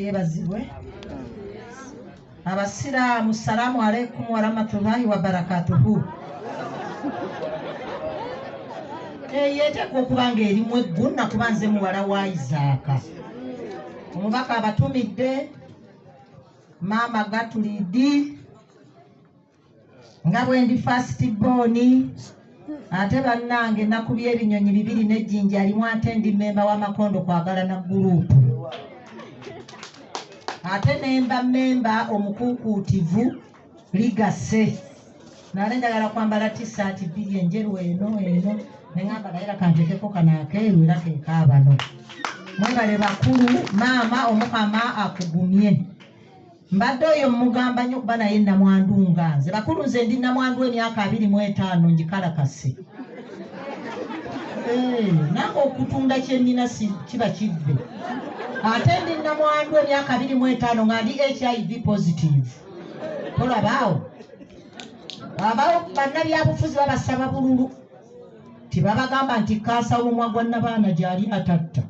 yebazibwe abasiraamu salaamu aleikum warahmatullahi wabarakatuhu eyo eteekwa okuba nga erimu eggu nakuba nze muwala wa isaaka omubaka abatumidde maama gatulidi nga bwendi first born ate bannange nakubya ebinyonyi bibiri nejjinja alimu ate ndi mmemba w'amakondo kwagala na guruupu ate nemba mmemba omukuukuutivu ligase nale njagala kwambala tisaati bbiri enjeru eno eno neŋamba naye lakantekeko kano akeeru era kekaabano mwebale bakulu maama omukama akugumye Mbadde oyo mmugamba nnyo kuba naye nnamwandu nga nze. Bakulu nze ndi nnamwandu emyaka abiri mu etaano ngikalakase. Eh, nange okutunda kye nnina kiba kivve. Ate ndi nnamwandu emyaka abiri mu etaano nga ndi HIV positive. Tolabaawo. Abawo bannabyabufuzi babasaba bululu. Tibabagamba nti kkansa w'omwa gwa nnabaana gyali atatta.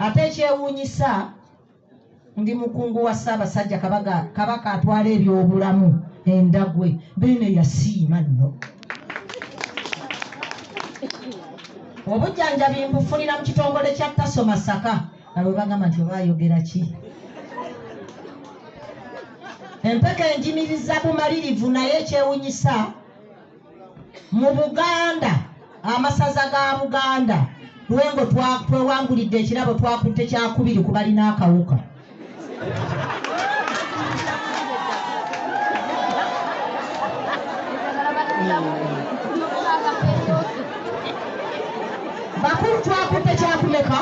Ate ekyewuunyisa Ndi mukungu wa Ssaabasajja Kabaka, Kabaka atwala ebyobulamu endagwe beene yasiima nno obujjanjabi mbufunira mu kitongole kya taso masaka nga bwe bagamba nti oba ayogera ki empeke enjimiriza bumalirivu naye ekyewunyisa mu buganda amasaza ga buganda lwengo twewangulidde ekirabo twakutte kyakubiri ku balina akawuka bakulu twakutte kyakumeka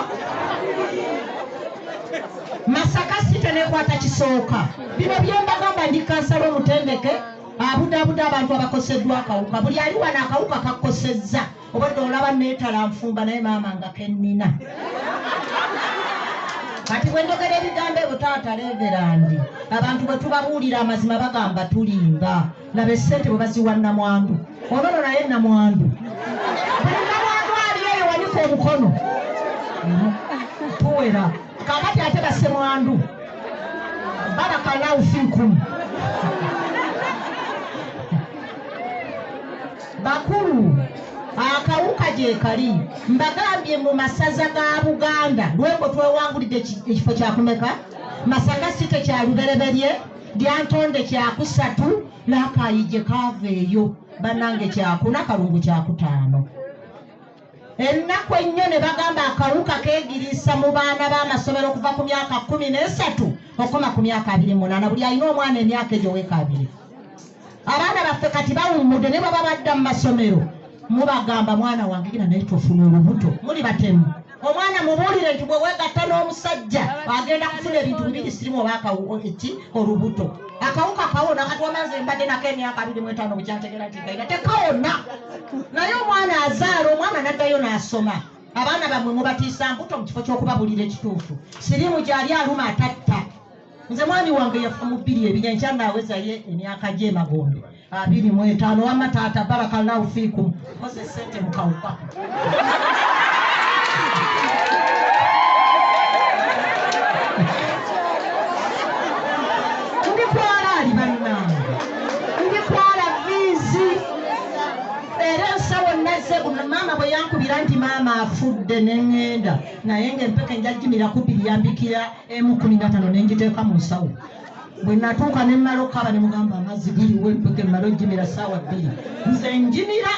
masaka site nekwata kisooka bino byembagamba ndi kansala omutendeke abudaabuda abantu abakoseddwa akawuka buli ali wano akawuka kakosezza obadde olaba neetala nfumba naye maama nga kennina kati bwe njogera ebigambo ebyo taata leverandi abantu bwe tubabuulira amazima bagamba tulimba laba essente bwe baziwa namwandu onono naye namwandu buli namwandu ali eyo wanika omukono tuwera kakati ate basemwandu barakalaufikum bakulu akawuka gyekali mbagambye mu masaza ga buganda lwembo twewangulidde ekifo kyakumeka masaka si tekyalubereberye lyantonde kyakusatu nakayije kava eyo banange kyakuna kalungu kyakutaano ennaku ennyo ne bagamba akawuka keegiriisa mu baana b'amasomero okuva ku myaka kumi n'esatu okukoma ku myaka abiri munaana buli alina omwana emyaka egyo weeka abiri abaana baffe kati bawummudde ne baba badda mu masomero mubagamba mwana wange gina naye tofuna olubuto muli batemu omwana mubuulire nti bwe weegatta n'omusajja agenda kufuna ebintu bibiri sirimu oba eki olubuto akawuka kawona kati wamaze mbadde nako emyaka abiri mwetaano bukyategera nti kaina tekawona naye omwana azaala omwana naddayo n'asoma abaana bamwe mubatiisa mbuto mu kifo ky'okubabulira ekituufu siriimu gyali aluma atatta nze mwami wange yafa mu bbiri ebinya nkyandaaweza ye emyaka gy'emagombe abiri mu etaano wamma taata barakallahu fiikum koze sente mukawuka maama bwe yankubira nti maama afudde neŋŋenda naye ng'empeke njajjimira kubiri yambikira emu kumi na tano ne ngiteeka mu nsawo bwe natuuka ne mmala okukaaba ne mugamba amazzi giriwo empuke mmala ojjimira ssaawa bbiri nze njimira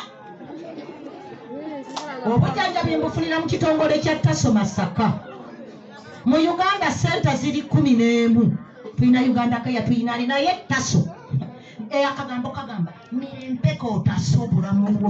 obujanjabi mbufunira mu kitongole kya taso masaka mu uganda senta ziri kumi n'emu tulina uganda kaya tulina ali naye taso akagambo kagamba mirempeka otaso obulamu bwo